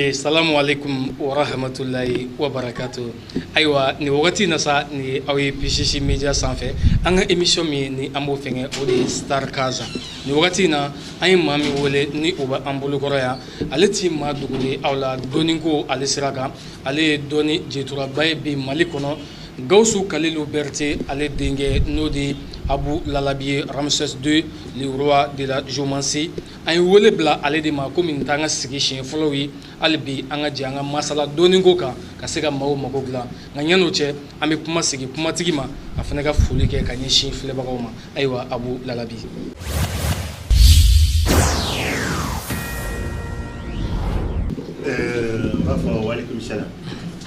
Eh, salamu alaikum wa rahmatulahi wa barakatu ayiwa nin wagati na sa ni aw ye pcc media sanfɛ an ka emission min ni an b'o fɛngɛ o de ye star kaza nin wagati na an ye maa min wele ni o bɛ an bolokɔrɔ yan ale ti maa dogolen aw la dɔnniko ale sira kan ale ye dɔnni jɛturaba ye bi mali kɔnɔ Gawusu Kalilu Bɛrite ale denkɛ n'o de ye Abu Lalabi ye Ramses II le roi de la Geomancie an ye wele bila ale de ma komi nin t'an ka sigi siɲɛ fɔlɔw ye hali bi an ka jɛ an ka masala dɔnniko kan ka se ka maaw mago dilan nka yan'o cɛ an bɛ kuma segin kumatigi ma a fana ka foli kɛ ka ɲɛsin filɛbagaw ma ayiwa Abu Lalabi Ɛɛ n b'a fɔ walekum salam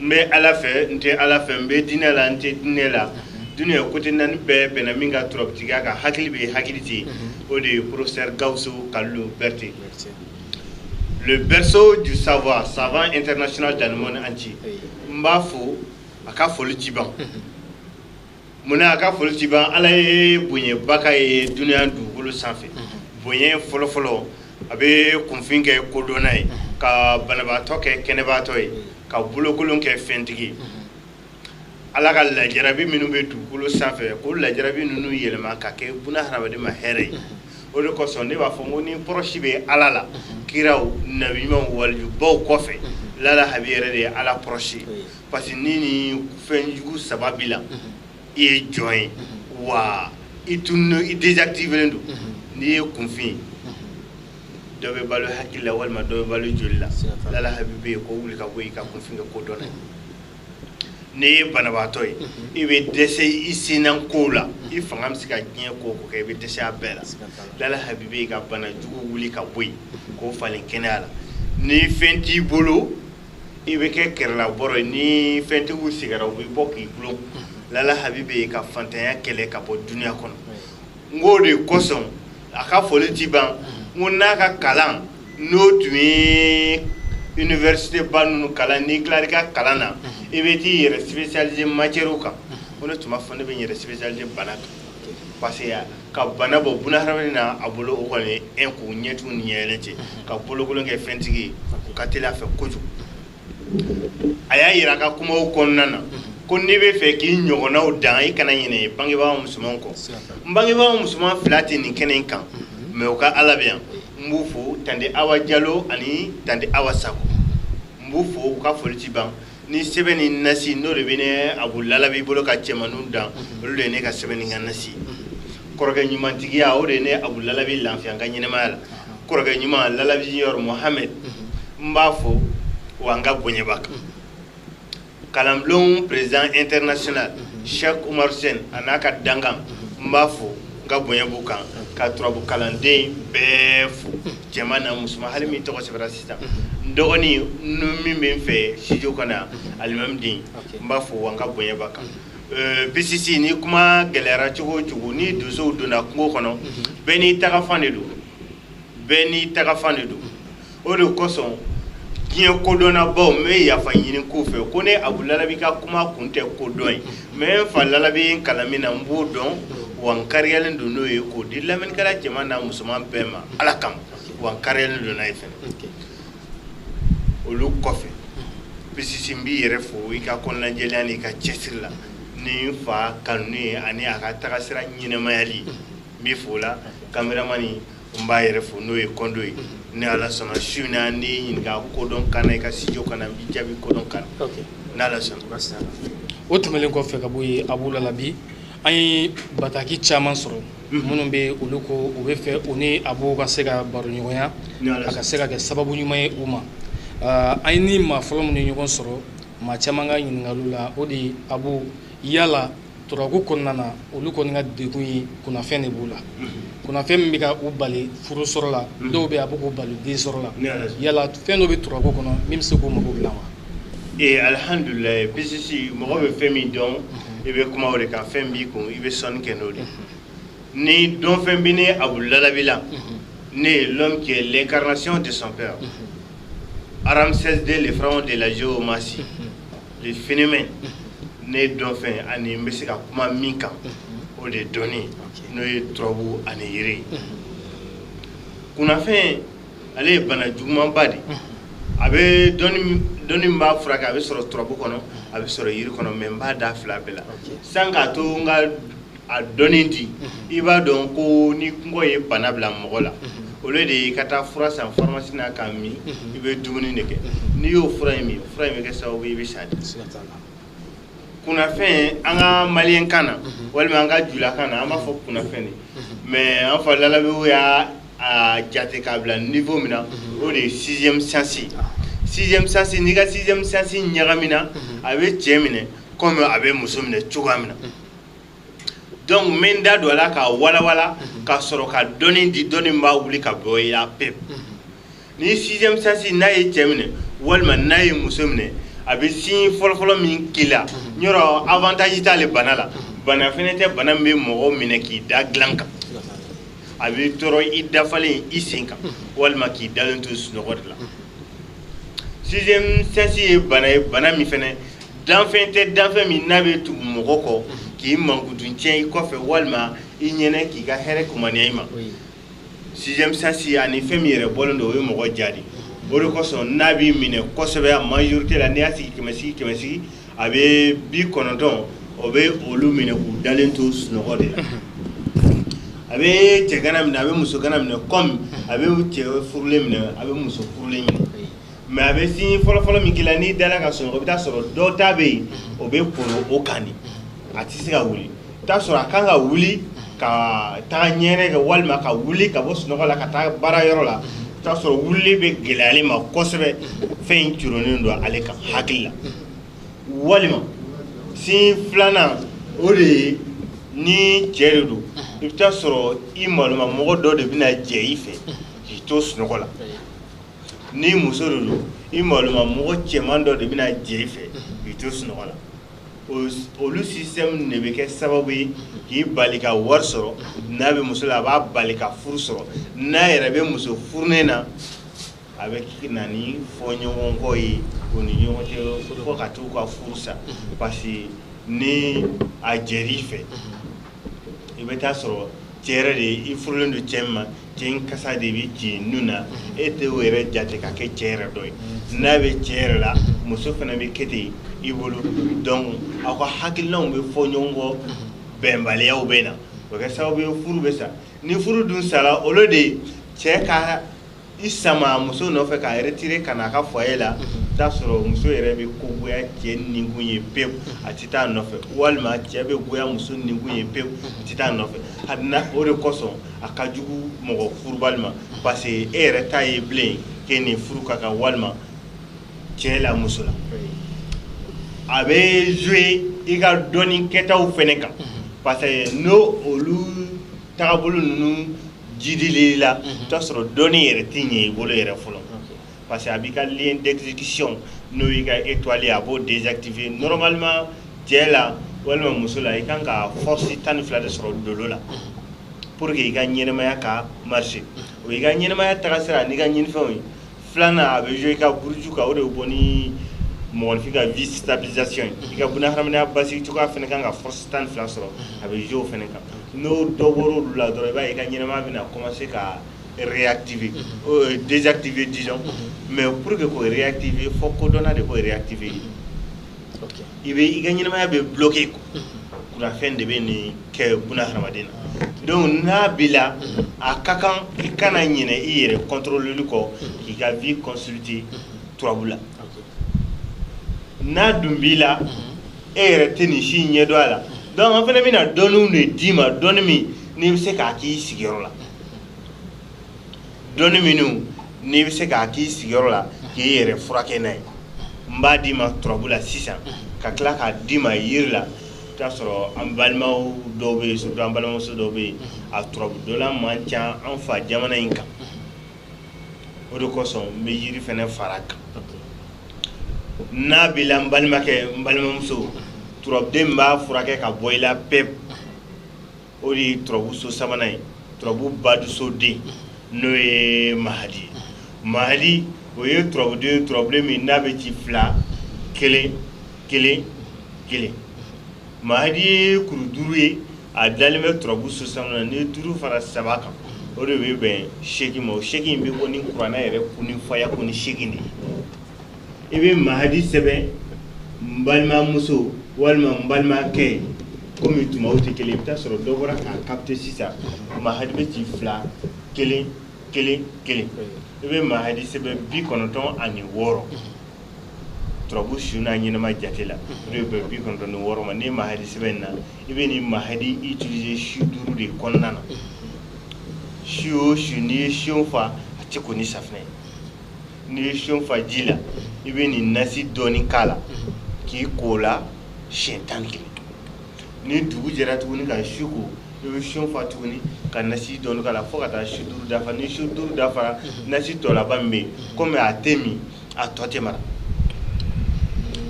n bɛ ala fɛ n tɛ ala fɛ n bɛ diinɛ la n tɛ diinɛ la dununya kote naani bɛɛ bɛnna min ka turabutigiya kan hakili bɛ hakili tɛ o de ye professeur Gawusu Kalilu Berete le berceau du savoir savant international dans le monde entier n b'a fo a ka foli ti ban Munna a ka foli tɛ ban Ala ye bonɲɛba k'a ye dunuya dugukolo sanfɛ bonɲɛ fɔlɔfɔlɔ a bɛ kunfin kɛ kodɔnna ye ka banabaatɔ kɛ kɛnɛbaatɔ ye ka bolokolon kɛ fɛntigi ye Ala ka lajarabi minnu bɛ dugukolo sanfɛ k'o lajarabi ninnu yɛlɛma ka kɛ buna hadamaden ma hɛrɛ ye o de kosɔn ne b'a fɔ n ko ni proche bɛ Ala la kiraw nabiɲumanw walijubaw kɔfɛ lala habi yɛrɛ de ye Ala proche ye Parce que ni nin fɛnjugu saba b'i la, unhun, i ye jɔn ye, unhun, wa i tununen don, i désactivé don, unhun, n'i ye kunfin ye, unhun, dɔ bɛ balo hakili la walima dɔ bɛ balo joli la, siga t'a la, Lala Habi bɛ yen k'o wuli ka bɔ yen, i ka kunfin kɛ kodɔnna ye, n'i ye banabaatɔ ye, unhun, i bɛ dɛsɛ i senna kow la, i fanga bɛ se ka diɲɛ ko o ko kɛ, i bɛ dɛsɛ a bɛɛ la, siga t'a la, Lala Habi bɛ yen ka banajugu wuli ka bɔ yen, k'o falen kɛnɛya la, ni fɛn t'i bolo i bɛ kɛ kɛrɛlabɔrɔ ye ni fɛntigiw sigira u b'i bɔ k'i gulon lala habi bɛ yen ka fantanya kɛlɛ ka bɔ dunuya kɔnɔ n k'o de kosɔn a ka foli ti ban n ko n'a ka kalan n'o tun ye université ba ninnu kalan n'i tilara i ka kalan na i bɛ t'i yɛrɛ spécialiser matière kan ko ne tun b'a fɔ ne bɛ n yɛrɛ spécialiser bana kan parce que ka bana bɔ bunahadamaden na a bolo o kɔni un k'o ɲɛtugu ni ɲɛyɛlɛ cɛ ka bolokolon kɛ fɛntigi o ka teli a fɛ kojugu a y'a yira a ka kumaw kɔnɔna na ko n'i bɛ fɛ k'i ɲɔgɔnnaw dan i kana ɲinɛ bangebaa musoman kɔ n bangebaa musoman fila tɛ nin kɛnɛ in kan mais u ka ala bɛ yan n b'u fo tante awa jalo ani tante awa sako n b'u fo u ka foli tɛ ban ni sɛbɛn ni nasi n'o de bɛ ne abu lalabi bolo ka cɛmanninw dan olu de ye ne ka sɛbɛn ni ka nasi kɔrɔkɛ ɲumantigiya o de ye ne abu lalabi lafiya n ka ɲɛnɛmaya la kɔrɔkɛ ɲuman lalabi junior mohamɛd n b'a fo wa n ka bonya b'a kan kalanbulon président international Cheikh Oumar Sen a n'a ka dankan n b'a fo n ka bonya b'u kan ka turabu kalanden bɛɛ fo cɛman n'a musoman hali min tɔgɔ sɛbɛnna dɔgɔnin min bɛ n fɛ studio kɔnɔ yan alimami den n b'a fo wa n ka bonya b'a kan pisisi ni kuma gɛlɛyara cogo o cogo ni donsow donna kungo kɔnɔ bɛɛ n'i tagafan de don bɛɛ n'i tagafan de don o de kosɔn diɲɛ kodɔnnabaw n bɛ yafa ɲini k'u fɛ ko ne abu lalabi ka kuma kun tɛ kodɔn ye mɛ n fa lalabi n kalan min na n b'o dɔn wa n kariyalen don n'o ye k'o di lamɛnnikɛla cɛman n'a musoman bɛɛ ma ala kama wa n kariyalen don n'a ye fɛnɛ olu kɔfɛ pisisi n b'i yɛrɛ fo i ka kɔnɔnajɛlenya n'i ka cɛsiri la ni n fa kanu ye ani a ka tagasira ɲɛnɛmayali n b'i fo la kameramani n b'a yɛrɛ fo n'o ye kɔndo ye ni ala sɔnna su in na n'i ɲininka kodɔn kan na i ka studio kan na n b'i jaabi kodɔn kan na n'ala sɔnna o tɛmɛnen kɔfɛ ka bɔ yen abu lalabi an ye bataki caman sɔrɔ minnu bɛ olu ko u bɛ fɛ u ni abu ka se ka baroɲɔgɔnya a ka se ka kɛ sababu ɲuman ye u ma an ye ni maa fɔlɔ minnu ɲɔgɔn sɔrɔ maa caman ka ɲininkaliw la o de abu yala turabu kɔnɔna na olu kɔni ka degun ye kunnafɛn de b'u la kunnafɛn min bɛ ka u bali furu sɔrɔ la dɔw bɛ a bɛ k'u bali den sɔrɔ la yala fɛn dɔ bɛ turabu kɔnɔ min bɛ se k'u mako dilan wa ee alihamdulilayi pisisi mɔgɔ bɛ fɛn min dɔn i bɛ kuma o de kan fɛn b'i kun i bɛ sɔnni kɛ n'o de ni dɔnfɛn bɛ ne abu lalabi la ne ye l'homme qui est l'incarnation de son père Ramsès 2 le pharaon de la géomancie le phénomène ne dɔnfɛn ani n bɛ se ka kuma min kan o de dɔnni n'o ye turabu ani yiri kunnafɛn ale ye bana jugumanba di a bɛ dɔnni min b'a furakɛ a bɛ sɔrɔ turabu kɔnɔ a bɛ sɔrɔ yiri kɔnɔ mɛ n b'a da fila bɛɛ la san k'a to n ka a dɔnni di i b'a dɔn ko ni kɔngɔ ye bana bila mɔgɔ la au lieu de i ka taa fura san faramasi na k'a min i bɛ dumuni de kɛ n'i y'o fura in min fura in bɛ kɛ sababu i bɛ sa di kunnafɛn an ka malien kan na walima an ka julakan na an b'a fɔ kunnafɛn de mɛ an fa lalabi y'a a jate k'a bila niveau min na mhm. o de ye sixième sens ah. sixième sens n'i ka sixième sens ɲagamina mhm. a bɛ cɛ minɛ comme a bɛ muso minɛ cogoya min na mhm. donc n bɛ n da don a la k'a walawala ka sɔrɔ ka dɔnni di dɔnni b'a wuli ka bɔ i la pewu. ni sixième sens n'a ye cɛ minɛ walima n'a ye muso minɛ a bɛ signe fɔlɔfɔlɔ min k'i la mhm. yɔrɔ avantage t'ale bana la mhm. bana fɛnɛ tɛ bana min bɛ mɔgɔ minɛ k'i da dilan kan a bɛ tɔɔrɔ i dafalen i sen kan mhm. walima k'i dalen to sunɔgɔ de la sixième sens ye bana ye bana min fɛnɛ danfɛn tɛ danfɛn min n'a bɛ tugu mɔgɔ kɔ k'i mankutu tiɲɛ i kɔfɛ walima i ɲɛnɛ k'i ka hɛrɛ kumaniya i ma sixième sens ani fɛn min yɛrɛ bɔlen don o ye mɔgɔ ja de o de kosɔn n'a b'i minɛ kosɛbɛ a majorité la n'i y'a sigi kɛmɛ sigi kɛmɛ sigi a bɛ bi kɔnɔntɔn o bɛ olu minɛ k'u dalen to sunɔgɔ de la a bɛ cɛgana minɛ a bɛ musogana minɛ comme a bɛ cɛ furulen minɛ a bɛ muso furulen minɛ mais a bɛ signe fɔlɔfɔlɔ min k'i la n'i dala ka sunɔgɔ i bɛ taa sɔrɔ dɔ ta bɛ yen o bɛ koro o kan de a tɛ se ka wuli i bɛ taa sɔrɔ a kan ka wuli ka taa ɲɛgɛnɛ kɛ walima ka wuli ka bɔ sunɔgɔ la ka taa baara yɔrɔ la i t'a sɔrɔ wulili bɛ gɛlɛya ale ma kosɛbɛ fɛn in curonnen don ale kan hakili la walima signe filanan o de ye ni cɛ de don i bɛ taa sɔrɔ i maloma mɔgɔ dɔ de bɛna jɛ i fɛ k'i to sunɔgɔ la ni muso de don i maloma mɔgɔ cɛman dɔ de bɛna jɛ i fɛ k'i to sunɔgɔ la olu système de bɛ kɛ sababu ye k'i bali ka wari sɔrɔ n'a bɛ muso la a b'a bali ka furu sɔrɔ n'a yɛrɛ bɛ muso furunen na a bɛ na ni fɔɲɔgɔnkɔ ye o ni ɲɔgɔn cɛ fo ka t'u ka furu sa parce que ni a jɛr'i fɛ i bɛ taa sɔrɔ cɛ yɛrɛ de i furulen don cɛ min ma cɛ in kasa de bɛ ci nun na e tɛ o yɛrɛ jate ka kɛ cɛ yɛrɛ dɔ ye n'a bɛ cɛ yɛrɛ la muso fana bɛ kɛ ten i bolo donc aw ka hakilinaw bɛ fɔ ɲɔgɔn kɔ bɛnbaliyaw bɛ na o kɛ sababu ye furu bɛ sa ni furu dun sala olu de cɛ ka i sama muso nɔfɛ k'a retire ka na a ka foyer la mhm. t'a sɔrɔ muso yɛrɛ bɛ ko goya cɛ ninkun ye pewu mhm. a tɛ taa nɔfɛ walima cɛ bɛ goya muso ninkun ye pewu mhm. a tɛ taa nɔfɛ habada o de kosɔn a ka jugu mɔgɔ furubali ma parce que e yɛrɛ t'a ye bilen k'e ni furu ka kan walima cɛ la muso la a bɛ jouer i ka dɔnni kɛtaw fɛnɛ kan parce que n'o olu tagabolo ninnu jidili la mhm. t'a sɔrɔ dɔnni yɛrɛ tɛ ɲɛ i bolo yɛrɛ fɔlɔ parce que a b'i ka lien d'exécution n'o y'i ka étoile a b'o désactiver normalement cɛ la walima muso la i kan ka force tan ni fila de sɔrɔ dolo la mhm. pour que i ka ɲɛnɛmaya ka marcher mhm. o y'i ka ɲɛnɛmaya tagasira n'i ka ɲinifɛnw ye filanan a bɛ jouer i ka buruju kan o de bɛ bɔ ni mɔgɔninfin ka vie stabilisation ye i ka bunahadamadenya basigi cogoya fana kan ka force tan ni fila sɔrɔ a bɛ jouer o fana kan n'o dɔ bɔra olu la dɔrɔn i b'a ye i ka ɲɛnamaya bɛna commencer ka réactiver euh, désactiver disons mais pour que k'o réactiver fo kodɔnna de k'o réactiver i bɛ i ka ɲɛnamaya bɛ bloquer ko kunnafɛn de bɛ nin kɛ buna hadamaden na donc n'a b'i la a ka kan i kana ɲinɛ i yɛrɛ contrôler kɔ k'i ka vie consulter turabu la n'a dun b'i la e yɛrɛ tɛ nin si ɲɛdɔn a la donc an fana bɛna dɔnni de d'i ma dɔnni min n'i bɛ se k'a k'i sigiyɔrɔ la dɔnni minnu n'i bɛ se k'a k'i sigiyɔrɔ la k'i yɛrɛ furakɛ n'a ye n b'a d'i ma turabu la sisan ka tila k'a d'i ma yiri la i t'a sɔrɔ an balimaw dɔw bɛ yen surtout an balimamuso dɔw bɛ yen a turabu dɔnna man ca an fa jamana in kan o de kosɔn n bɛ yiri fana fara a kan n'a b'i la n balimakɛ n balimamuso turabuden min b'a furakɛ ka bɔ i la pewu o de ye turabuso sabanan ye turabu baduso den n'o ye mahadi ye mahadi o ye turabuden turabuden min n'a bɛ ci fila kelen kelen kelen mahadi ye kuru duuru ye a dalen bɛ turabu so sabanan ni duuru fara saba kan o de bɛ bɛn seegin ma o seegin bɛ bɔ ni kuranɛ yɛrɛ kuni fayakuni seegin de ye i bɛ mahadi sɛbɛn n balimamuso walima n balimakɛ kɔmi tuma tɛ kelen i bɛ t'a sɔrɔ dɔw bɔra k'a capter sisan mahadi bɛ ci fila kelen kelen kelen i bɛ mahadi sɛbɛn bi kɔnɔntɔn ani wɔɔrɔ turabu sun n'a ɲɛnama jate la o de bɛ bɛn bi kɔnɔntɔn ni wɔɔrɔ ma ni mahadi sɛbɛnna i bɛ nin mahadi utiliser su duuru de kɔnɔna na su o su n'i ye siyon fa a tɛ ko ni safinɛ ye n'i ye siyon fa ji la i bɛ nin nasi dɔɔni k'a la k'i ko la siɲɛ tan ni kelen ni dugu jɛra tuguni ka su ko i bɛ siyon fa tuguni ka nasi dɔɔni k'a la fo ka taa su duuru dafa ni su duuru dafara nasi tɔ laban min bɛ yen komi a tɛ min a tɔ tɛ mara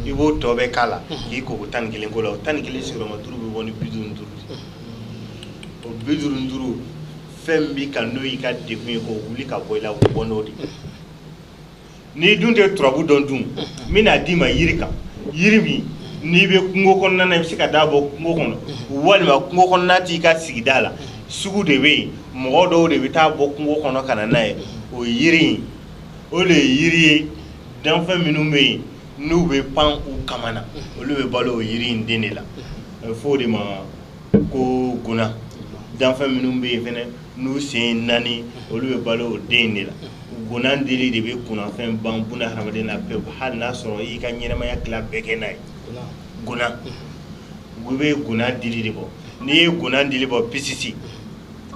i b'o tɔ bɛɛ k'a la k'i ko ko tan ni kelen ko la o tan ni kelen sigiyɔrɔma duuru bɛ bɔ ni bi duuru ni duuru o bi duuru ni duuru fɛn b'i kan n'o y'i ka degun ye k'o wuli ka bɔ i la o bɔ n'o de ye n'i dun tɛ turabu dɔn dun n bɛn'a d'i ma yiri kan yiri min n'i bɛ kungo kɔnɔna na i bɛ se ka t'a bɔ kungo kɔnɔ walima kungo kɔnɔna t'i ka sigida la sugu de bɛ yen mɔgɔ dɔw de bɛ taa bɔ kungo kɔnɔ ka na n'a ye o yiri in o de ye yiri ye danfɛn minnu bɛ yen n'u bɛ pan u kaman na olu bɛ balo o yiri in den de la a bɛ fɔ o de ma ko guna danfɛn minnu bɛ yen fɛnɛ n'u sen naani olu bɛ balo o den de la guna dili de bɛ kunnafɛn ban buna hadamaden na pewu hali n'a sɔrɔ i ka ɲɛnamaya tila bɛɛ kɛ n'a ye guna u bɛ guna dili de bɔ n'i ye guna dili bɔ pisisi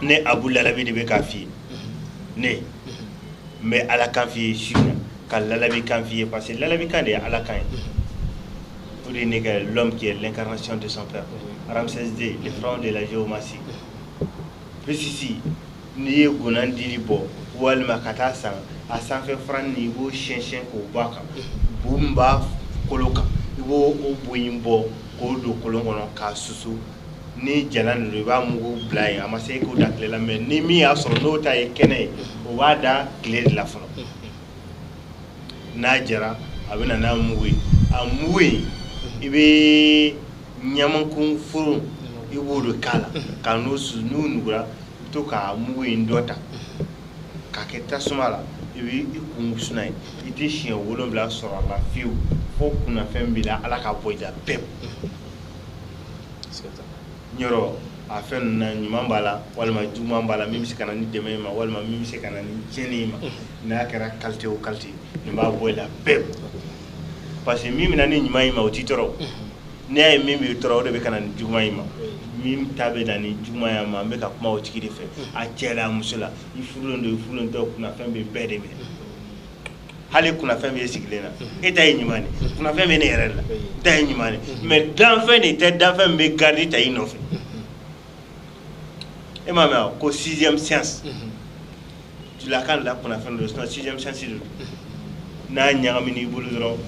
ne abu lalabi de bɛ k'a f'i ye ne n bɛ ala kan f'i ye su in na ka lalabi kan f'i ye parce que lalabi kan de ye ala kan ye o de ye ne kɛ l'homme qui est l'incarnation de son père Ramsès II le pharaon de la géomancie pisisi n'i ye guna dili bɔ walima ka taa san a sanfɛ fara nin i b'o siyɛnsiyɛn k'o bɔ a kan bu min b'a kolo kan i b'o o bu in bɔ k'o don kolon kɔnɔ k'a susu ni jalan nin i b'a mugu bila yen a ma se e k'o da tile la mais ni min y'a sɔrɔ n'o ta ye kɛnɛ ye o b'a da tile de la fɔlɔ n'a jara a bɛ na n'a mugu ye a mugu in i bɛ ɲamakun furu i b'o de k'a la ka n'o susu n'o nugura i bɛ to ka mugu in dɔ ta k'a kɛ tasuma la i bɛ i kun wusu n'a ye i tɛ siɲɛ wolonwula sɔrɔ a la fiyewu fo kunnafɛn b'i la ala k'a bɔ i la pewu yɔrɔ a fɛn ninnu na ɲuman b'a la walima juguman b'a la min bɛ se ka na ni dɛmɛ y'i ma walima min bɛ se ka na ni tiɲɛni y'i ma n'a kɛra qualité o qualité nin b'a bɔ i la pewu parce que min bɛ na ni ɲuman y'i ma o t'i tɔɔrɔ n'i y'a ye min b'i tɔɔrɔ o de bɛ ka na ni juguman y'i ma min ta bɛ na ni juguman y'i ma an bɛ ka kuma o tigi de fɛ a cɛ la a muso la i furulen don i furulen tɛ o kunnafɛn bɛ bɛɛ de minɛ hali kunnafɛn bɛ sigilen na e ta ye ɲuman kunnafɛn bɛ ne yɛrɛ la n ta ye ɲuman mais danfɛn de tɛ danfɛn bɛ garde ta i nɔfɛ e m'a mɛn ko sixième sens tubabukan la kunnafɛn don sixième sens don n'a ɲagamina i bolo dɔrɔn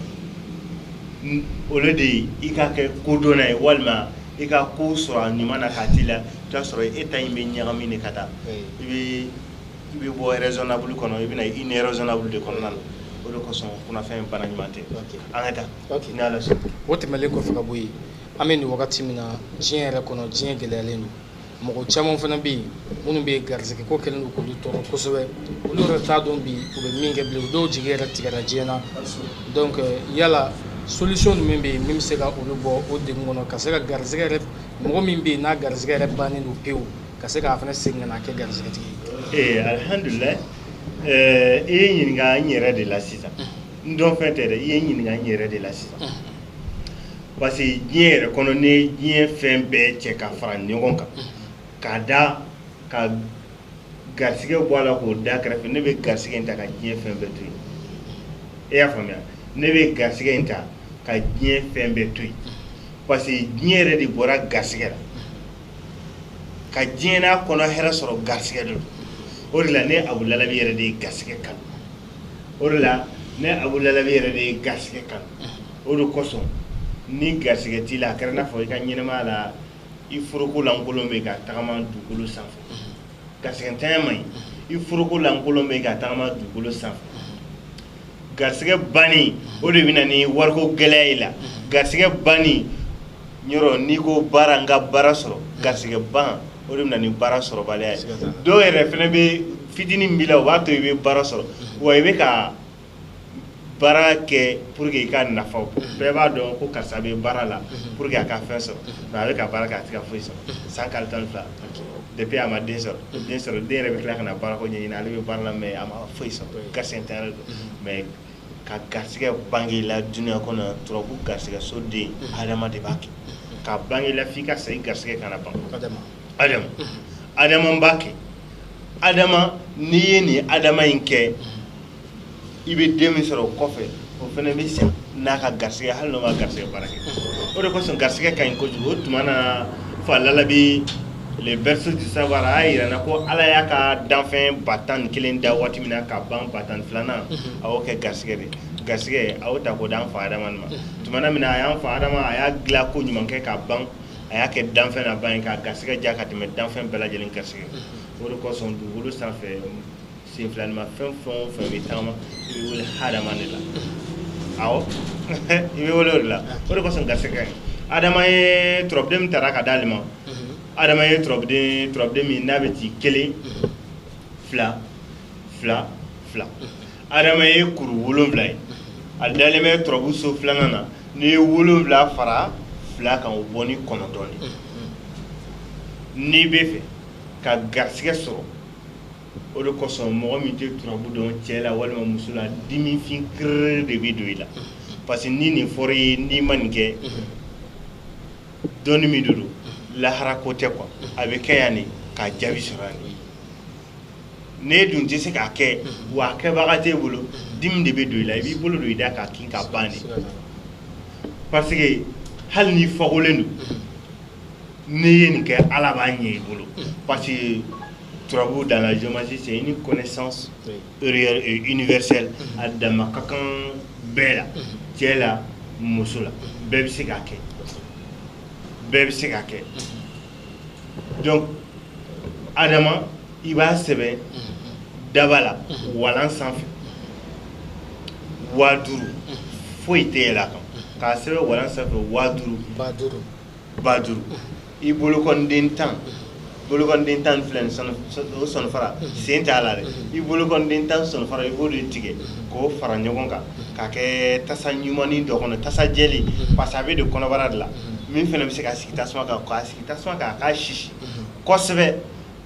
olu de ye i ka kɛ kodɔnna ye walima i ka ko sɔrɔ a ɲuman na k'a t'i la i b'a sɔrɔ e ta in bɛ ɲagami de ka taa i bɛ bɔ raisonnable kɔnɔ i bɛ na irraisonnable de kɔnɔna na o de kosɔn kunnafɛn bana ɲuman tɛ an ka taa ni Ala sɔnna o tɛmɛnlen kɔfɛ ka bɔ yen an bɛ nin wagati min na diɲɛ yɛrɛ kɔnɔ diɲɛ gɛlɛyalen don mɔgɔ caman fana bɛ yen minnu bɛ garisɛgɛ ko kɛlen don k'olu tɔɔrɔ kosɛbɛ olu yɛrɛ t'a dɔn bi u bɛ min kɛ bilen u dɔw jigi yɛrɛ tigɛra diɲɛ na donc yala solution jumɛn bɛ yen min bɛ se ka olu bɔ o degun kɔnɔ ka se ka garisɛgɛ yɛrɛ mɔgɔ min bɛ yen n'a garisɛgɛ yɛrɛ bannen don pewu ka se k'a fana segin ka na kɛ garisigɛtigi ye ee eh, alihamdulilayi eh, i ye ɲininka n yɛrɛ de la sisan n dɔn fɛn tɛ dɛ i ye ɲininka n yɛrɛ de la sisan parce que diɲɛ yɛrɛ kɔnɔ n'i ye diɲɛ fɛn bɛɛ cɛ ka fara ɲɔgɔn kan k'a da ka garisigɛ bɔ a la k'o da kɛrɛfɛ ne bɛ garisigɛ in ta ka diɲɛ fɛn bɛɛ to yen e y'a faamuya ne bɛ garisigɛ in ta ka diɲɛ fɛn bɛɛ to yen parce que diɲɛ yɛrɛ de bɔra garisigɛ la ka diɲɛ n'a kɔnɔ hɛrɛ sɔrɔ garisɛgɛ de don o de la ne abu lalabi yɛrɛ de ye garisɛgɛ kanu o de la ne abu lalabi yɛrɛ de ye garisɛgɛ kanu o de kosɔn ni garisɛgɛ t'i la a kɛra n'a fɔ i ka ɲɛnɛmaya la i foroko lankolon bɛ ka tagama dugukolo sanfɛ Garisɛgɛntanya man ɲi i foroko lankolon bɛ ka tagama dugukolo sanfɛ garisɛgɛ banni o de bɛ na ni wariko gɛlɛya y'i la garisɛgɛ banni yɔrɔ n'i ko baara n ka baara sɔrɔ garisɛgɛ ban o de bɛ na ni baara sɔrɔbaliya ye dɔw yɛrɛ fɛnɛ bɛ fitinin b'i la o b'a to i bɛ baara sɔrɔ wa i bɛ ka baara kɛ pour que i ka nafa bɔ bɛɛ b'a dɔn ko karisa bɛ baara la pour que a ka fɛn sɔrɔ mais a bɛ ka baara kɛ a tɛ ka foyi sɔrɔ san kalo tan ni fila depuis a ma den sɔrɔ den yɛrɛ bɛ tila ka na baara ko ɲɛɲini ale bɛ baara la mais a ma foyi sɔrɔ garisɛgɛntanya de don mais ka garisɛgɛ bange la dunuya kɔnɔ turabu garisɛgɛ so den adama de b'a kɛ ka bange la f'i ka sa i garisɛgɛ kana ban adama b'a kɛ adama n'i ye nin adama in kɛ i bɛ den min sɔrɔ o kɔfɛ o fana bɛ sa n'a ka garisɛgɛ hali n'o ma garisɛgɛ baara kɛ o de kosɔn garisɛgɛ ka ɲi kojugu o tuma na fa lalabi le berceau du savoir a y'a yira an na ko Ala y'a ka danfɛn ba tan ni kelen da waati min na ka ban ba tan ni filanan a y'o kɛ garisɛgɛ de garisɛgɛ a y'o ta k'o di an fa Adama de ma tuma min na a y'an fa Adama a y'a dilan ko ɲuman kɛ k'a ban a y'a kɛ danfɛn laban ye k'a garisɛgɛ diya ka tɛmɛ danfɛn bɛɛ lajɛlen garisɛgɛ o de kosɔn dugukolo sanfɛ sen filanima fɛn o fɛn bɛ tagama i bɛ wele hadama de la awɔ i bɛ wele o de la o de kosɔn garisɛgɛ ka ɲi adama ye turabuden min tara ka d'ale ma adama ye turabuden min n'a bɛ ci kelen fila fila fila adama ye kuru wolonfila ye a dalen bɛ turabu so filanan na n'i ye wolonfila fara fila kan o bɔ ni kɔnɔntɔn de n'i bɛ fɛ ka garisɛgɛ sɔrɔ o de kosɔn mɔgɔ min tɛ turabu dɔn cɛ la walima muso la dimifin kiriri de bɛ don i la parce que ni nin fɔra i ye n'i ma nin kɛ dɔnni min de don lahara ko tɛ quoi a bɛ kɛ yan nin k'a jaabi sɔrɔ yan nin n'e dun tɛ se k'a kɛ wa a kɛbaga t'e bolo dimi de bɛ don i la i b'i bolo don i da k'a kin k'a ban de parce que hali n'i fakolen don n'i ye nin kɛ Ala b'a ɲɛ i bolo parce que turabu dans la géomancie c'est une connaissance réelle et universelle a dama ka kan bɛɛ la cɛ la muso la bɛɛ bɛ se k'a kɛ bɛɛ bɛ se k'a kɛ donc Adama i b'a sɛbɛn daba la walan sanfɛ waa duuru foyi tɛ yɛlɛ a kan k'a sɛbɛn walan sanfɛ waa duuru ba duuru i bolokɔnden tan bolokɔnden tan filɛ nin o sɔnfara sen t'a la dɛ i bolokɔnden tan sɔnfara i b'o de tigɛ k'o fara ɲɔgɔn kan k'a kɛ tasa ɲumannin dɔ kɔnɔ tasa jɛlen parce que a bɛ don kɔnɔbara de la min fana bɛ se ka sigi tasuma kan k'a sigi tasuma kan a k'a sisi kosɛbɛ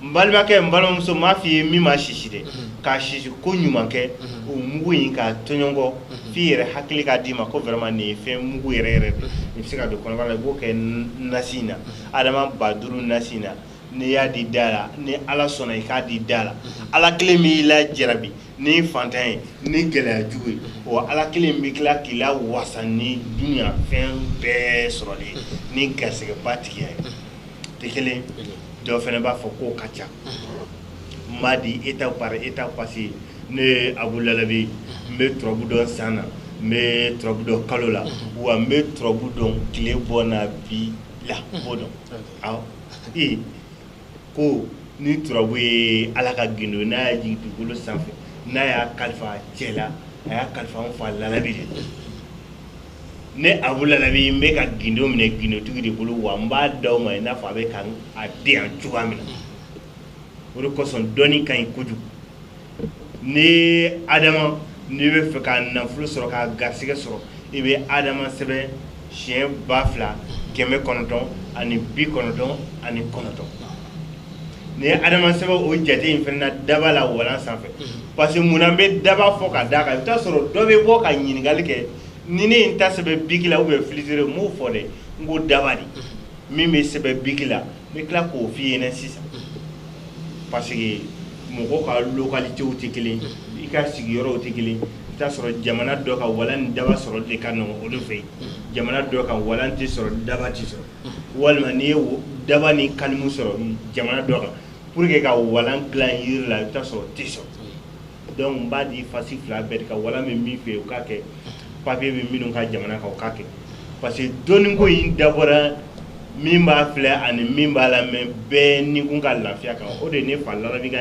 n balimakɛ n balimamuso m'a f'i ye min ma sisi dɛ k'a sisi ko ɲuman kɛ o mugu in k'a tɔɲɔnkɔ f'i yɛrɛ hakili k'a d'i ma ko vraiment nin ye fɛn mugu yɛrɛ yɛrɛ de nin bɛ se ka don kɔnɔbara la i b'o kɛ nasi in na adama ba duuru nasi in na n'i y'a di da la ni ala sɔnna i k'a di da la ala kelen b'i lajarabi ni fantan ye ni gɛlɛya jugu ye wa ala kelen bɛ tila k'i lawasa ni duniya fɛn bɛɛ sɔrɔli ni garisɛgɛba tigiya ye tɛ kelen dɔ fana b'a fɔ k'o ka ca n b'a di étape par étape parce que ne abu lalabi n bɛ turabu dɔn san na n bɛ turabu dɔn kalo la wa n bɛ turabu dɔn tile bɔ na bi la n b'o dɔn ee ko ni turabu ye ala ka gindo n'a y'a jigin dugukolo sanfɛ n'a y'a kalifa cɛ la a y'a kalifa n fa lalabi de ne abu lalabi n bɛ ka gindo minɛ gindotigi de bolo wa n b'a d'aw ma i n'a fɔ a bɛ ka a di yan cogoya min na o de kosɔn dɔnni ka ɲi kojugu ni adama n'i bɛ fɛ ka nafolo sɔrɔ ka garisɛgɛ sɔrɔ i bɛ adama sɛbɛn siyɛn ba fila kɛmɛ kɔnɔntɔn ani bi kɔnɔntɔn ani kɔnɔntɔn n'i ye adama sɛbɛn o jate in fana daba la walan sanfɛ parce que munna n bɛ daba fɔ ka d'a kan i bɛ taa sɔrɔ dɔ bɛ bɔ ka ɲininkali kɛ ni ne ye n ta sɛbɛn biki la ou bien filisire n m'o fɔ dɛ n ko daba de min bɛ sɛbɛn biki la n bɛ tila k'o f'i ɲɛna sisan parce que mɔgɔw ka localités tɛ kelen ye i ka sigiyɔrɔw tɛ kelen ye i bɛ taa sɔrɔ jamana dɔ kan walan ni daba sɔrɔli de ka nɔgɔn olu fɛ yen jamana dɔ kan walan tɛ sɔrɔ daba tɛ sɔrɔ. walima n'i ye daba ni kalimu sɔrɔ jamana dɔ kan pour que ka walan dilan jiri la i bɛ taa sɔrɔ tɛ sɔrɔ donc n b'a di fasi fila bɛɛ ka walan bɛ min fɛ yen o k'a kɛ papier bɛ minnu ka jamana kan o k'a kɛ parce que dɔnni ko in dabɔra min b'a filɛ ani min b'a lamɛn bɛɛ ni kun ka lafiya kan o de ne fa lalabi ka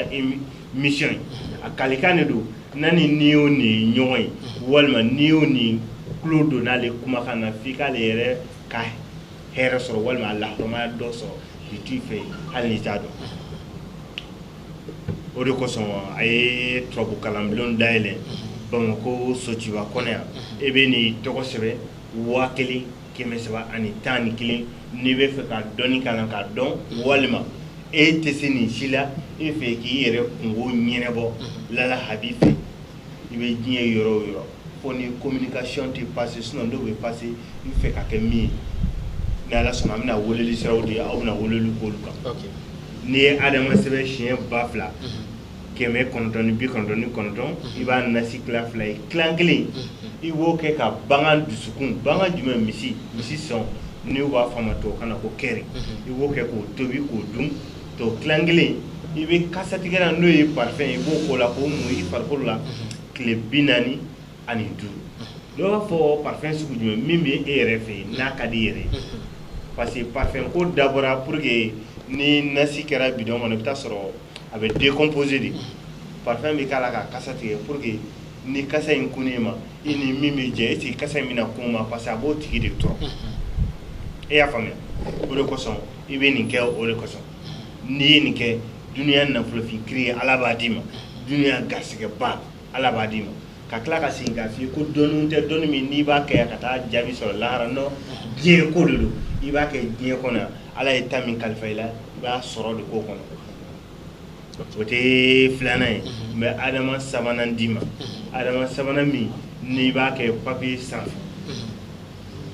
mission ye a kalikan de don na ni ni y'o nin ɲɔgɔn ye walima ni y'o nin tulo don n'ale kumakan na f'i k'ale yɛrɛ ka hɛrɛ sɔrɔ walima a lahɔrɔmaya dɔ sɔrɔ bi t'i fɛ yen hali n'i t'a dɔn o de kosɔn a ye turabu kalanbulon dayɛlɛ bamakɔ sotiba kɔnɔ yan e bɛ n'i tɔgɔ sɛbɛn waa kelen kɛmɛ saba ani tan ni kelen n'i bɛ fɛ ka dɔnni kalan k'a dɔn walima e tɛ se nin si la e fɛ k'i yɛrɛ kungo ɲɛnɛbɔ lala habi fɛ i bɛ diɲɛ yɔrɔ o yɔrɔ fo ni communication tɛ passer sinon dɔw bɛ passer i fɛ ka kɛ min ye ni ala sɔnna an bɛna weleli siraw di aw bɛna weleli k'olu kan n'i ye adama sɛbɛn siɲɛ ba fila kɛmɛ kɔnɔntɔn ni bi kɔnɔntɔn ni kɔnɔntɔn i b'a nasi tila fila ye tilan kelen i b'o kɛ ka bangan dusukun bangan jumɛn misi misi sɔn n'u b'a fɔ a ma tubabukan na ko kɛri i b'o kɛ k'o tobi k'o dun tɔ tilan kelen i bɛ kasatigɛlan n'o ye parfum i b'o k'o la k'o mun i farikolo la tile bi naani ani duuru dɔw b'a fɔ parfum sugu jumɛn min bɛ e yɛrɛ fɛ yen n'a ka d'i yɛrɛ parce que parfum ko dabɔra pour que ni nasi kɛra bidɔn kɔnɔ i bɛ taa sɔrɔ a bɛ décomposer de parfum bɛ k'a la ka kasa tigɛ pour que ni kasa in kunn'e ma i ni min bɛ jɛ est-ce que kasa in bɛna kun o ma parce que a b'o tigi de tɔɔrɔ e y'a faamuya o de kosɔn i bɛ nin kɛ o de kosɔn n'i ye nin kɛ dunya nafolofin kiri ye ala b'a d'i ma dunya garisɛgɛba ala b'a d'i ma ka tila ka segin k'a fɔ ko dɔnni tɛ dɔnni min n'i b'a kɛ ka taa jaabi sɔrɔ lahara non diɲɛ ko de don i b'a kɛ diɲɛ kɔnɔ yan ala ye ta min kalifa i la i b'a sɔrɔ de ko kɔnɔ o tɛ filanan ye n bɛ adama sabanan d'i ma adama sabanan min n'i b'a kɛ papier san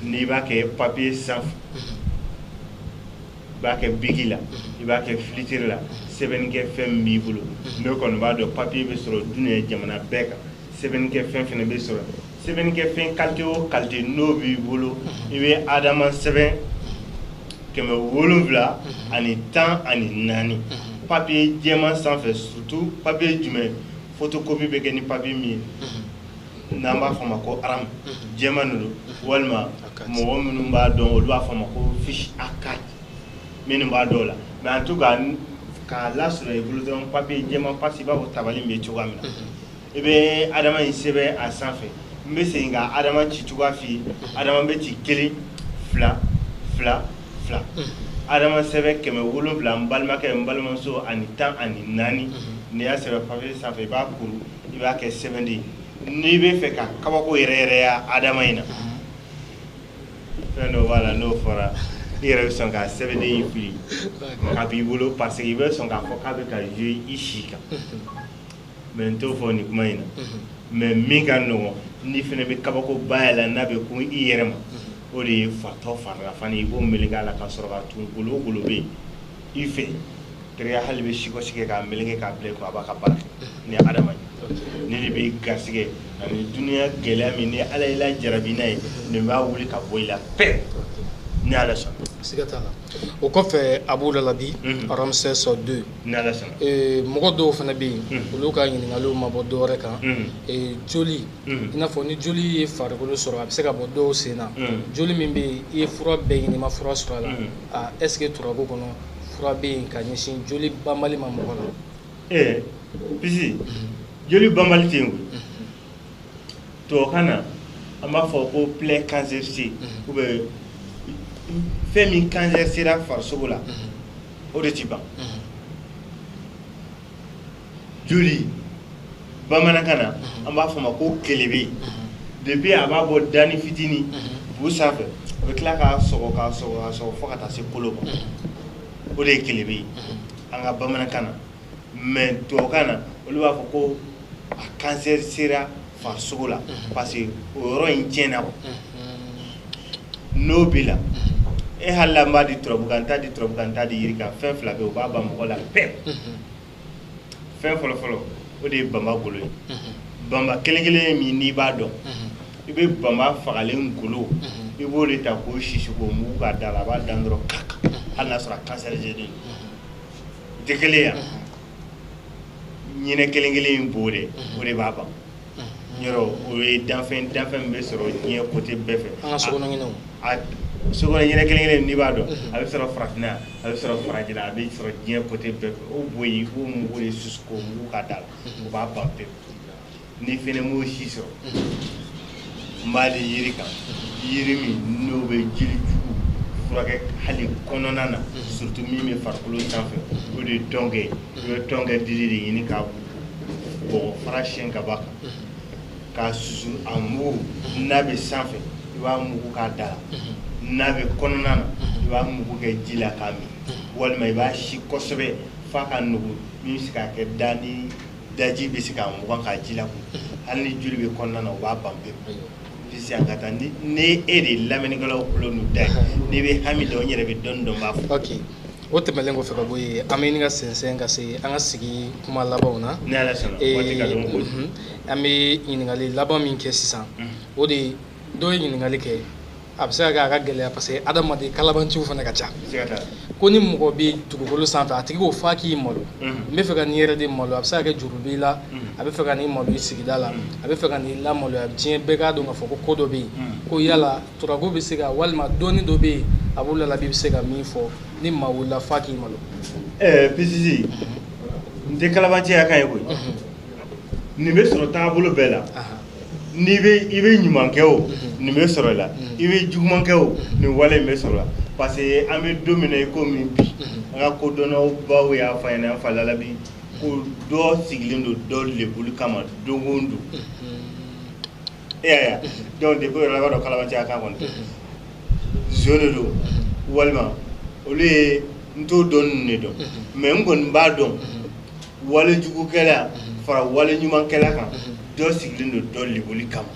n'i b'a kɛ papier sanfɛ i b'a kɛ biki la i b'a kɛ filitiri la sɛbɛnnikɛ fɛn min b'i bolo ne kɔni b'a dɔn papier bɛ sɔrɔ dunuya jamana bɛɛ kan sɛbɛnnikɛ fɛn fɛnɛ bɛ sɔrɔ sɛbɛnnikɛ fɛn qualité o qualité n'o b'i bolo i bɛ adama sɛbɛn kɛmɛ wolonwula ani tan ani naani papier jɛman sanfɛ surtout papier jumɛn photocopie bɛ kɛ ni papier min ye n'an b'a fɔ a ma ko aramu jɛman de don walima mɔgɔ minnu b'a dɔn olu b'a fɔ a ma ko fiche A 4 minnu b'a dɔn o la mais en tout cas k'a lasɔrɔ i bolo dɔrɔn papier jɛman parce que i b'a fɔ tabali min bɛ cogoya min na i bɛ adama in sɛbɛn a sanfɛ n bɛ segin ka adama ci cogoya f'i ye adama bɛ ci kelen fila fila fila adama sɛbɛn kɛmɛ wolonwula n balimakɛ n balimamuso ani tan ani naani n'i y'a sɛbɛn papier sanfɛ i b'a kuru i b'a kɛ sɛbɛnden n'i bɛ fɛ ka kabako yɛrɛ yɛrɛ ye adama in na fɛn dɔ b'a la n'o fɔra i yɛrɛ bɛ sɔn ka sɛbɛnden in fili k'a b'i bolo parce que i bɛ sɔn k'a fɔ k'a bɛ ka jouer i si kan mais n t'o fɔ nin kuma in na mais min ka nɔgɔn n'i fana bɛ kabakoba y'a la n'a bɛ kun i yɛrɛ ma o de ye fatɔ farila fani i b'o meleke a la ka sɔrɔ k'a tun golo o golo bɛ yen i fɛ teriya hali bɛ sikɔsi kɛ k'a meleke k'a bila i kun a b'a ka baara kɛ ni adama ne de bɛ garisɛgɛ ani dununya gɛlɛya min ni ala y'i lajarabi n'a ye nin b'a wuli ka bɔ i la pewu ni ala sɔnna siga t'a la o kɔfɛ abu lalabi ramsès deux ni ala sɔnna mɔgɔ dɔw fana bɛ yen olu ka ɲininkaliw ma bɔ dɔwɛrɛ kan joli i n'a fɔ ni joli ye farikolo sɔrɔ a bɛ se ka bɔ dɔw sen na joli min bɛ yen i ye fura bɛɛ ɲini i ma fura sɔrɔ a la aa est ce que turabu kɔnɔ fura bɛ yen ka ɲɛsin joli banbali ma mɔgɔ la ee pisi joli banbali tɛ yen koyi tubabukan na an b'a fɔ ko plaie cancérisée ou bien fɛn min cancer sera farisogo la o de ti ban joli bamanankan na an b'a fɔ ma ko kelebe depuis a b'a bɔ dani fitini bu sanfɛ a bɛ tila k'a sɔgɔ k'a sɔgɔ k'a sɔgɔ fo ka taa se kolo ma o de ye kelebe ye an ka bamanankan na mais tubabukan na olu b'a fɔ ko a cancer sera farisogo la parce que o yɔrɔ in tiɲɛna quoi n'o b'i la e hali la n b'a di turabu kan n t'a di turabu kan n t'a di yiri kan fɛn fila bɛ yen o b'a ban mɔgɔ la pewu fɛn fɔlɔ fɔlɔ o de ye banba golo ye banba kelen kelen min n'i b'a dɔn i bɛ banba fagalen golo i b'o de ta k'o sisi k'o mugu k'a da la a b'a dan dɔrɔn kaka hali n'a sɔrɔ a cancer de don tɛ kelen ye ɲinɛ kelen kelen in bo de o de b'a ban yɔrɔ o ye danfɛn danfɛn min bɛ sɔrɔ diɲɛ côté bɛɛ fɛ, an ka sokɔnɔ ɲinɛw, a sokɔnɔ ɲinɛ kelen kelen n'i b'a dɔn a bɛ sɔrɔ farafinna yan a bɛ sɔrɔ farajɛla a bɛ sɔrɔ diɲɛ côté bɛɛ fɛ o bo in i b'o mugu de susu k'o mugu k'a da la o b'a ban pewu n'i fana m'o si sɔrɔ n b'a di yiri kan yiri min n'o bɛ joli jugu furakɛ hali kɔnɔna na surtout min bɛ farikolo sanfɛ o de ye tɔnkɛ ye i bɛ tɔnkɛ dili de ɲini k'a fara siyɛn ka b'a kan k'a susu a mugu n'a bɛ sanfɛ i b'a mugu k'a da la n'a bɛ kɔnɔna na i b'a mugu kɛ ji la k'a min walima i b'a si kosɛbɛ f'a ka nugu min bɛ se k'a kɛ da ni daji bɛ se k'a mugan k'a ji lakunu hali ni joli bɛ kɔnɔna na o b'a ban pewu pisi an ka taa ni e de ye lamɛnnikɛlaw tulo n'u da ye n'i bɛ hami dɔn n yɛrɛ bɛ dɔɔni dɔn n b'a fɔ. o tɛmɛlen kɔfɛ ka bɔ yen an bɛ ɲini ka sɛnsɛn ka se an ka sigi kuma labanw na ni ala sɔnna Ee, waati ka dɔgɔ koyi mhm. an bɛ ɲininkali laban min kɛ sisan o de ye dɔ ye ɲininkali kɛ a bɛ se ka kɛ a ka gɛlɛya parce que adamaden kalabanciw fana ka ca ko ni mɔgɔ bɛ dugukolo sanfɛ a tigi ko f'a k'i malo n bɛ fɛ ka n'i yɛrɛ de malo a bɛ se ka kɛ juru b'i la a bɛ fɛ ka n'i malo i sigida la a bɛ fɛ ka n'i lamaloya diɲɛ bɛɛ k'a dɔn k'a fɔ ko ko dɔ bɛ yen ko yala turabu bɛ se ka walima dɔnni dɔ bɛ yen a b'o lalabi bɛ se ka min fɔ ni maa wulila f'a k'i malo ɛɛ eh, pisisi n tɛ kalabanciya kan ye koyi nin bɛ sɔrɔ taabolo bɛɛ la n'i bɛ i bɛ ɲuman kɛ o nin bɛ sɔrɔ i la i bɛ juguman kɛ o nin wale in bɛ sɔrɔ la parce que an bɛ don min na i ko min bi an ka kodɔnnaw baw y'a fɔ an ɲɛna an fa lalabi ko dɔ sigilen don dɔ lebuli kama don o don e y'a ye donc depuis o yɛrɛ la i b'a dɔn kalabanciya kan kɔni zo de don walima olu ye n t'o dɔn ninnu de don mais n kɔni b'a dɔn walijugukɛla fara wali ɲumankɛla kan dɔ sigilen don dɔ lebuli kama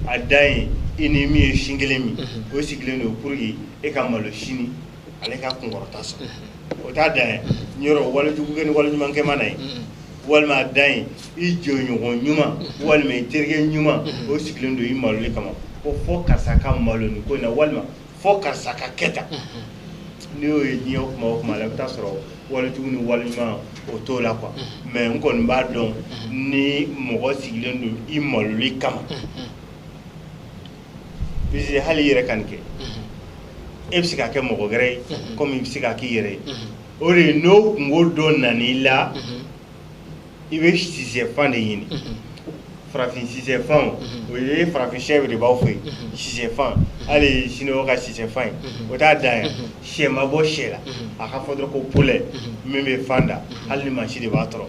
a dan ye i ni min ye sin kelen min o sigilen don pour que e ka malo sini ale ka kunkɔrɔta sɔrɔ unhun o t'a dan ye unhun yɔrɔ wali jugu kɛ ni wali ɲuman kɛ mana ye unhun walima a dan ye i jɛɲɔgɔn ɲuman unhun walima i terikɛ ɲuman unhun o sigilen don i maloli kama ko fo karisa ka malo nin ko in na walima fo karisa ka kɛ tan unhun n'i y'o ye diɲɛ kuma o kuma la i bɛ taa sɔrɔ wali jugu ni wali ɲuman o t'o la quoi unhun mais n kɔni b'a dɔn unhun ni mɔgɔ sigilen don i maloli kama unhun hali i yɛrɛ ka nin kɛ i bɛ se k'a kɛ mɔgɔ wɛrɛ ye komi i bɛ se k'a k'i yɛrɛ ye o de ye n'o kunko dɔ nana i la i bɛ sisɛfan de ɲini farafin sisɛfan o ye farafin sɛ de b'aw fɛ yen sisɛfan hali siniwaw ka sisɛfan ye o t'a dan ye sɛ ma bɔ sɛ la a ka fɔ dɔrɔn ko poulet min bɛ fan da hali ni mansin de b'a tɔrɔ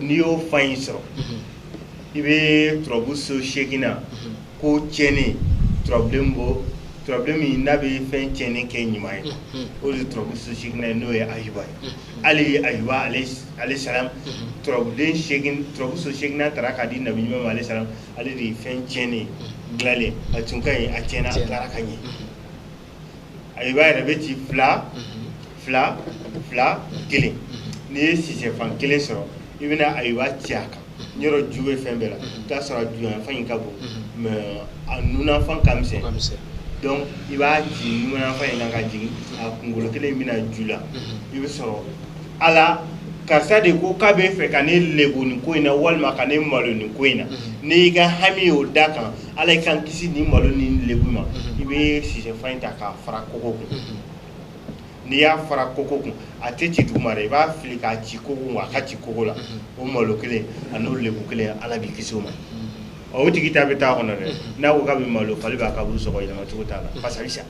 n'i y'o fan in sɔrɔ i bɛ turabu so seeginnan ko tiɲɛni turabuden bɔ turabuden min n'a bɛ fɛn tiɲɛni kɛ ɲuman ye o de ye turabu so seeginnan ye n'o ye ayuba ye hali ayuba aleyi salam turabuden seegin turabu so seeginnan taara k'a di nabi ayuba ma aleyi salam ale de ye fɛn tiɲɛni dilanlen a tun ka ɲi a tiɲɛna a tilara ka ɲɛ ayuba yɛrɛ bɛ ci fila fila fila kelen n'i ye sisɛfan kelen sɔrɔ i bɛna ayuba ci a kan yɔrɔ ju bɛ fɛn bɛɛ la i t'a sɔrɔ a juyanfan in ka bon mais a nunafan ka misɛn donc i b'a ci nunafan in kan ka jigin a kunkolo kelen bɛna ju la i bɛ sɔrɔ ala karisa de ko k'a bɛ fɛ ka ne lebu nin ko in na walima ka ne malo nin ko in na n'i y'i ka hami o d'a kan Ala i k'an kisi ni malo ni lebu ma i bɛ sisɛfan in ta k'a fara kogo kun n'i y'a fara kogo kun a tɛ ci duguma dɛ i b'a fili k'a ci kogo kun a ka ci kogo la o malo kelen an'o lebu kelen Ala b'i kisi o ma ɔ o tigi ta bɛ taa kɔnɔ dɛ n'a ko k'a bɛ malo fali b'a kaburu sɔgɔ yɛlɛma cogo t'a la parce que a bɛ sa.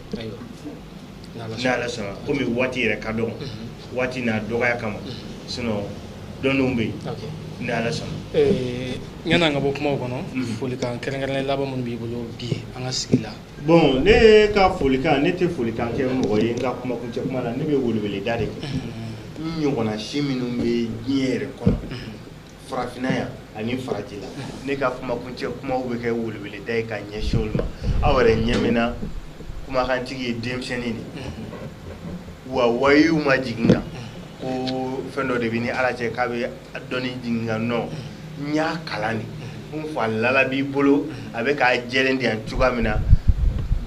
n'ala sɔnna komi waati yɛrɛ ka dɔgɔ waati n'a dɔgɔya kama sinon dɔnniw bɛ yen ni ala sɔnna ɲani an ka bɔ kumaw kɔnɔ folikan kɛrɛnkɛrɛnnen laban minnu b'i bolo bi an ka sigi la bon ne ka folikan ne tɛ folikan kɛ mɔgɔ ye n ka kumakuncɛ kuma la ne bɛ weleweleda de kɛ n ɲɔgɔnna si minnu bɛ diɲɛ yɛrɛ kɔnɔ farafinna yan ani farajɛ la ne ka kumakuncɛ kumaw bɛ kɛ weleweleda ye ka ɲɛsin olu ma aw yɛrɛ ɲɛ min na kumakantigi ye denmisɛnnin de wa wahayu ma jigin n kan ko fɛn dɔ de bɛ n ni ala cɛ k'a bɛ dɔnni jigin n kan non n y'a kalan de n fa lala habi bolo a bɛ k'a jɛlen de yan cogoya min na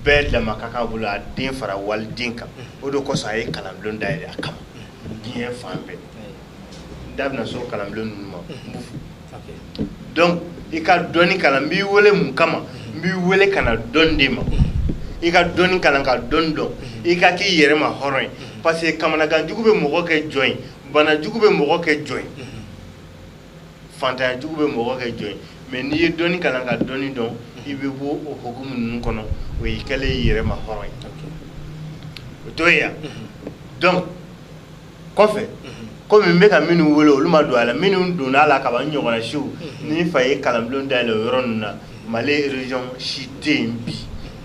bɛɛ dama ka kan bolo a den fara waliden kan o de kosɔn a ye kalanbulon dayɛlɛ a kama diɲɛ fan bɛɛ da bɛna se kalanbulon ninnu ma donc i ka dɔnni kalan n b'i weele mun kama n b'i weele ka na dɔnni di ma i ka dɔnni kalan ka dɔnni dɔn i ka k'i yɛrɛ ma hɔrɔn ye parce que kamanagan jugu bɛ mɔgɔ kɛ jɔn ye bana jugu bɛ mɔgɔ kɛ jɔn ye faantanya jugu bɛ mɔgɔ kɛ jɔn ye mais n'i ye dɔnni kalan ka dɔnni dɔn i bɛ bɔ o hukumu ninnu kɔnɔ o y'i kɛlen y'i yɛrɛ ma hɔrɔn ye o t'o ye yan donc kɔfɛ komi n bɛ ka minnu wele olu ma don a la minnu donna a la ka ban n ɲɔgɔnna siw ne fa ye kalanbulon dayɛlɛ o yɔrɔ ninnu na mali région si tɛ yen bi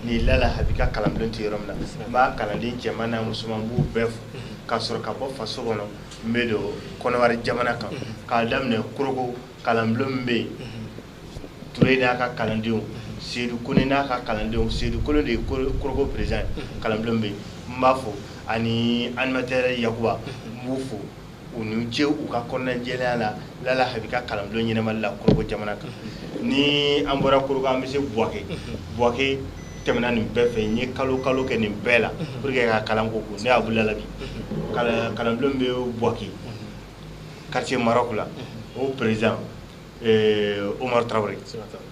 ni lala habi ka kalanbulon tɛ yɔrɔ min na n b'a kalanden cɛman n'a musoman n b'u bɛɛ fo ka sɔrɔ ka bɔ faso kɔnɔ n bɛ don kɔnɔwari jamana kan k'a daminɛ korogo kalanbulon min bɛ yen Toure n'a ka kalandenw Seydou Kone n'a ka kalandenw Seydou Kone de ye Korogo président ye kalanbulon min bɛ yen n b'a fo ani animateur Yakuba n b'u fo u ni ce u ka kɔnɔnajɛlenya la Lala Habi ka kalanbulon ɲɛnabɔli la Korogo jamana kan ni an bɔra Korogo an bɛ se Buwake Buwake tɛmɛna nin bɛɛ fɛ n ye kalo kalo kɛ nin bɛɛ la pour que ka kalan ko ne Abu Lala Habi kalanbulon min bɛ Buwake quartier Maroc la o président Omar Traoré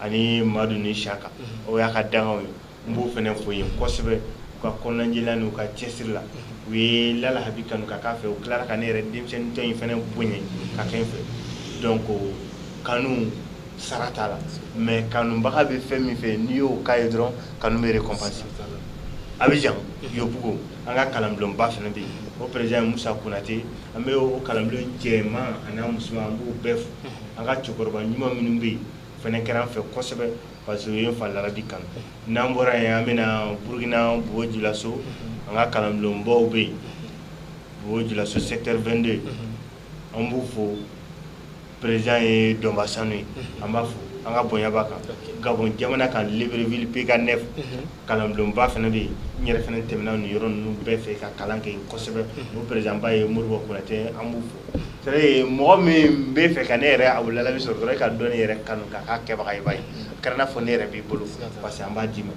ani madu ni saka o y'a ka dankanw ye n b'o fɛnɛ fo yen kosɛbɛ u ka kɔnɔnajɛlenya n'u ka cɛsiri la u ye lala habi kanu ka k'a fɛ u tilara ka ne yɛrɛ denmisɛntɔ in fɛnɛ bonya ka kɛ n fɛ donc kanu sara t'a la mais kanubaga bɛ fɛn min fɛ n'i y'o k'a ye dɔrɔn kanu bɛ récompenser Abidjan Yopougon an ka kalanbulonba fɛnɛ bɛ yen o président musa Konaté an bɛ o kalanbulon cɛman an'a musoman an b'u bɛɛ fo an ka cɛkɔrɔba ɲuman minnu bɛ yen fɛnɛ kɛra an fɛ kosɛbɛ parce que u ye n fa larabi kanu n'an bɔra yen an bɛna burukina bobo julaso an ka kalanbulonbaw bɛ yen bobo julaso secteur 22 an b'u fo président ye dɔnba sanu ye an b'a fo an ka bonya b'a kan gabon jamana kan libreville pk 9 kalanbulonba fɛnɛ bɛ yen n yɛrɛ fɛnɛ tɛmɛna nin yɔrɔ ninnu bɛɛ fɛ ka kalan kɛ kosɛbɛ o présidentba ye modibo konatɛ an b'u fo c'est à dire mɔgɔ min bɛ fɛ ka ne yɛrɛ abu lalabi sɔrɔ dɔrɔn ka dɔnni yɛrɛ kanu ka k'a kɛbaga ye b'a ye a kɛra n'a fɔ ne yɛrɛ b'i bolo parce que an b'a d'i ma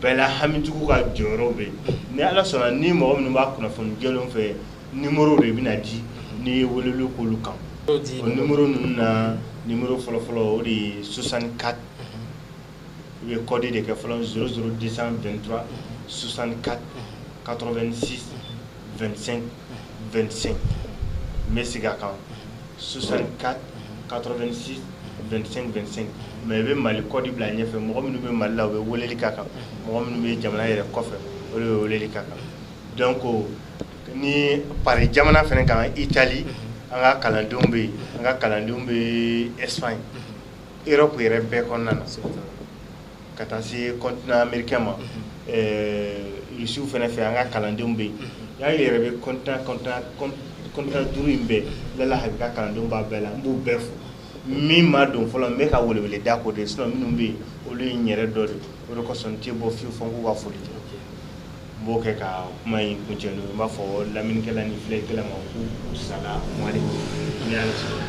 bɛɛ la hamitigiw ka jɔyɔrɔ bɛ yen ni ala sɔnna ni mɔgɔ minnu b'a kunnafoni jɛlenw fɛ ni mori de bɛna ji n'i ye wele kolo kan ni mori ninnu na ni mori fɔlɔfɔlɔ o de ye susan ka u ye kɔdi de kɛ fɔlɔ s suru disan vtura susan ka kato2si2sen vsen n bɛ sigi a kan susan ka kato2si vsen vsen mɛ i bɛ mali kɔdi bila ɲɛfɛ mɔgɔ minnu bɛ mali la u bɛ wele ka kan mɔgɔ minnu bɛ jamana yɛrɛ kɔfɛ o ye wele ka kan Donc ni paris jamana fɛnɛ kan itali an ka kalandenw bɛ yen an ka kalandenw bɛ espagne europe yɛrɛ bɛɛ kɔnɔna na ka taa se continent américain ma risiw fɛnɛ fɛ an ka kalandenw bɛ yen y'a yɛrɛ bɛ continent duuru in bɛɛ lalabi ka kalandenw b'a bɛɛ la n b'u bɛɛ fo min ma don fɔlɔ n bɛ ka welewele da k'o de sinon minnu bɛ yen olu ye n yɛrɛ dɔ de o de kosɔn n tɛ bɔ fewu fɔ n k'u ka foli n b'o kɛ ka kuma in kuncɛ n'o ye n b'a fɔ lamɛnnikɛla ni filɛlikɛla ma k'u u sala mali ni ala sɔnna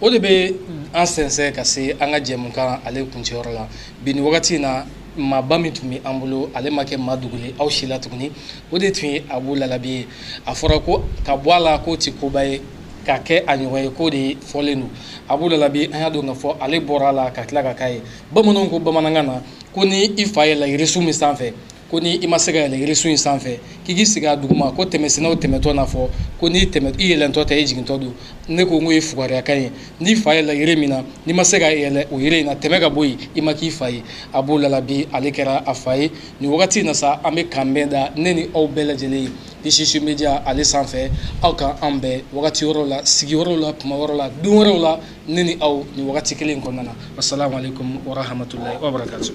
o de bɛ an sɛnsɛn ka se an ka jɛmukan ale kuncɛyɔrɔ la bi ni wagati in na maaba min tun bɛ an bolo ale ma kɛ maa dogolen aw si la tuguni o de tun ye abu lalabi ye a fɔra ko ka bɔ a la k'o tɛ koba ye ka kɛ a ɲɔgɔn ye k'o de fɔlen don abu lalabi an y'a dɔn k'a fɔ ale bɔra a la ka tila ka k'a ye bamananw ko bamanankan na ko ni i fa yɛlɛla yirisun min sanfɛ ko ni i ma se ka yɛlɛ yirisun in sanfɛ k'i k'i sigi a duguma ko tɛmɛsennaw tɛmɛtɔ n'a fɔ ko n'i yɛlɛntɔ tɛ i jigintɔ don ne ko n k'o ye fugariyakan ye n'i fa yɛlɛla yiri min na n'i ma se ka yɛlɛ o yiri in na tɛmɛ ka bɔ yen i ma k'i fa ye abu lalabi ale kɛra a fa ye nin wagati in na sa an bɛ k'an bɛn da ne ni aw bɛɛ lajɛlen ye Isisu media ale sanfɛ aw k'an bɛn wagati wɛrɛw la sigi wɛrɛw la kuma wɛrɛw la don wɛrɛw la ne ni aw nin wagati kelen kɔnɔna na assalamu alaikum wa rahmatullahi wa barakatuh